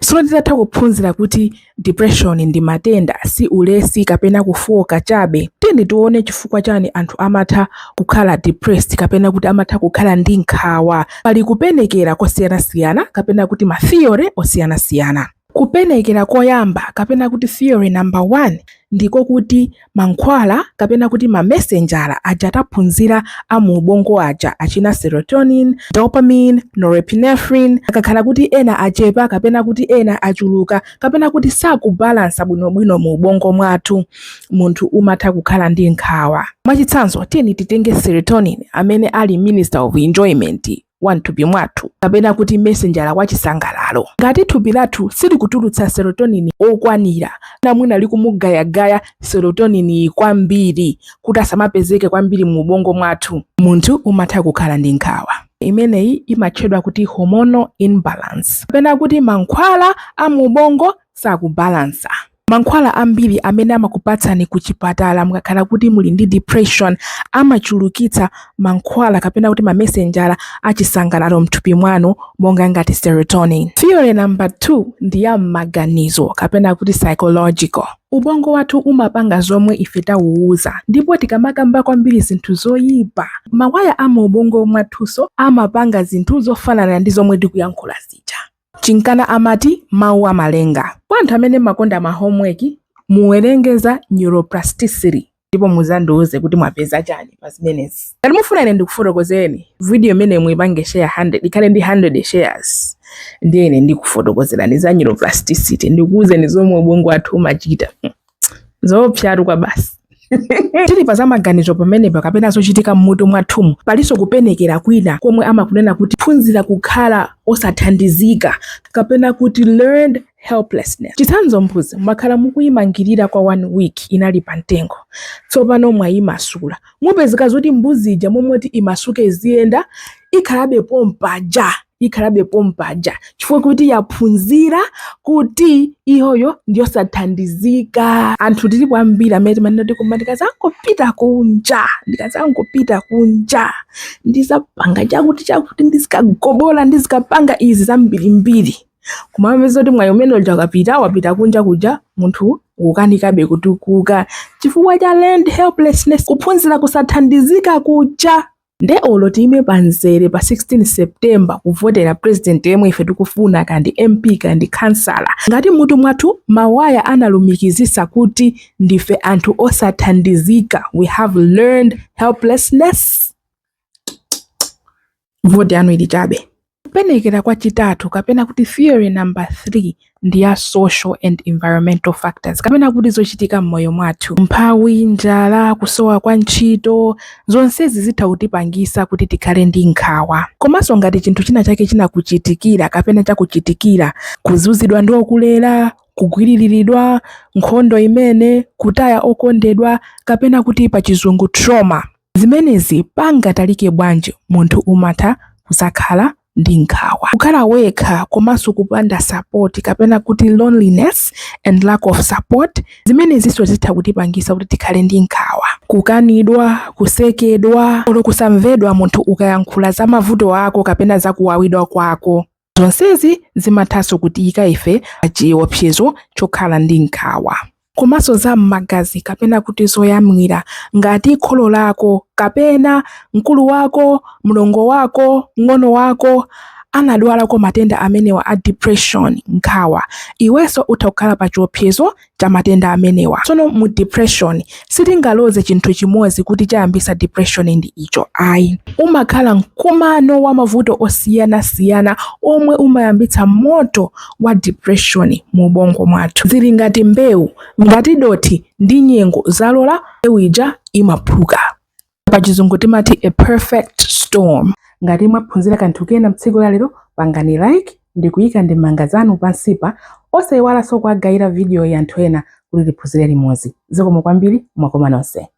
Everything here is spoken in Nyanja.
Tsono titatha kuphunzira kuti depression ndi matenda, si ulesi kapena kufooka chabe, tiyeni tione chifukwa chani anthu amatha kukhala depressed kapena kuti amatha kukhala ndi nkhawa. Pali kupenekera kosiyanasiyana kapena kuti ma theory osiyanasiyana. Kupenekera koyamba kapena kuti theory number one ndiko kuti mankhwala kapena kuti mamesenjala aja taphunzira a mu ubongo aja achina serotonin, dopamine, norepinephrine akakhala kuti ena achepa kapena kuti ena achuluka kapena kuti sakubalansa bwinobwino mu ubongo mwathu munthu umatha kukhala ndi nkhawa mwachitsanzo tiyeni titenge serotonin amene ali minister of enjoyment wa m'thupi mwathu kapena kuti mesenjala wa chisangalalo. Ngati thupi lathu silikutulutsa serotonin wokwanira, kapena mwina likumugayagaya serotonin kwambiri kuti asamapezeke kwambiri mu ubongo mwathu, munthu umatha kukhala ndi nkhawa. Imeneyi imatchedwa kuti hormonal imbalance kapena kuti mankhwala a mu ubongo sakubalansa. Mankhwala ambiri amene amakupatsani kuchipatala mukakhala kuti muli ndi depression amachulukitsa mankhwala kapena kuti mamesenjala a chisangalalo m'thupi mwanu monga ngati serotonin. Theory number 2 ndi ya m'maganizo kapena kuti psychological. Ubongo wathu umapanga zomwe ife tauuza ndipo tikamakamba kwambiri zinthu zoyipa, mawaya a mu ubongo mwathunso amapanga zinthu zofanana ndi zomwe tikuyankhula zija. Chinkana amati Mawu amalenga. Kwa anthu amene mmakonda ma homework, muwerenge za neuroplasticity ndipo muzandiuze kuti mwapeza chani pa zimenezi. Ngati mufuna ine ndikufotokozereni, video imeneyi muipange share 100, ikhale ndi 100 shares, ndiye ine ndikufotokozerani za neuroplasticity, ndikuuzeni zomwe ubongo wathu umachita. zoopsatu kwabasi tili pa zamaganizo pamenepa kapena zochitika m'mutu mwathumu palinso kupenekera kwina komwe amakunena kuti phunzira kukhala osathandizika kapena kuti learned helplessness chitsanzo mbuzi mwakhala mukuyimangirira kwa one week inali pa mtengo tsopano mwayimasula mupezeka zoti mbuzi ija m'malo moti imasuke iziyenda ikhalabe pompaja ikhalabe pompaja chifukwa kuti yaphunzira kuti iyoyo ndiyosathandizika anthu tilipo ambiri amene timanena kuti koma ndikazangopita kunja ndikazangopita kunja ndizapanga chakuti chakuti ndizikagobola ndizikapanga izi zambirimbiri koma amapeza kuti mwayi umene uja ukapita wapita kunja kuja munthu ukanikabe kutukuka chifukwa cha learned helplessness kuphunzira kusathandizika kuja nde olo tiime panzere pa 16 september kuvotera president yemwe ife tikufuna kaya ndi mp kaya ndi khansala ngati mutu mwathu mawaya analumikizisa kuti ndife anthu osathandizika we have learned helplessness voti yanu ili chabe Kupenekera kwa chitatu kapena kuti theory number 3 ndi ya social and environmental factors kapena kuti zochitika m'moyo mwathu. Umphawi, njala, kusowa kwa ntchito, zonsezi zitha kutipangisa kuti tikhale ndi nkhawa. Komanso ngati chinthu china chake chinakuchitikira kapena chakuchitikira, kuzunzidwa ndi okulera, kugwililiridwa, nkhondo imene, kutaya okondedwa, kapena kuti pa chizungu trauma. Zimenezi pangatalike bwanji, munthu umatha kudzakhala ndi nkhawa. Kukhala wekha komanso kupanda support kapena kuti loneliness and lack of support, zimenezinso zitha kutipangisa kuti tikhale ndi nkhawa. Kukanidwa, kusekedwa, olo kusamvedwa, munthu ukayankhula za mavuto ako kapena za kuwawidwa kwako. Zonsezi zimathanso kutiyika ife pa chiopsezo chokhala ndi nkhawa. komanso za m'magazi kapena kuti zoyamwira ngati kholo lako kapena mkulu wako, mlongo wako, mng'ono wako anadwalako matenda amenewa a depression, nkhawa, iwenso utha kukhala pa chiopsezo cha matenda amenewa. Tsono mu depression sitingaloze chinthu chimodzi kuti chayambisa depression ndi icho ayi. Umakhala mkumano wa mavuto osiyanasiyana omwe umayambitsa moto wa depression mu ubongo mwathu. Zili ngati mbewu, ngati dothi ndi nyengo zalola, mbewu ija imaphuka. pa chizungu timati a perfect storm ngati mwaphunzira kanthu kena mtsiku la lero pangani like ndi kuyika ndemanga zanu pansipa osayiwalanso kuwagayira videoyi anthu ena kuti tiphunzire limodzi zikomo kwambiri mwakoma nonse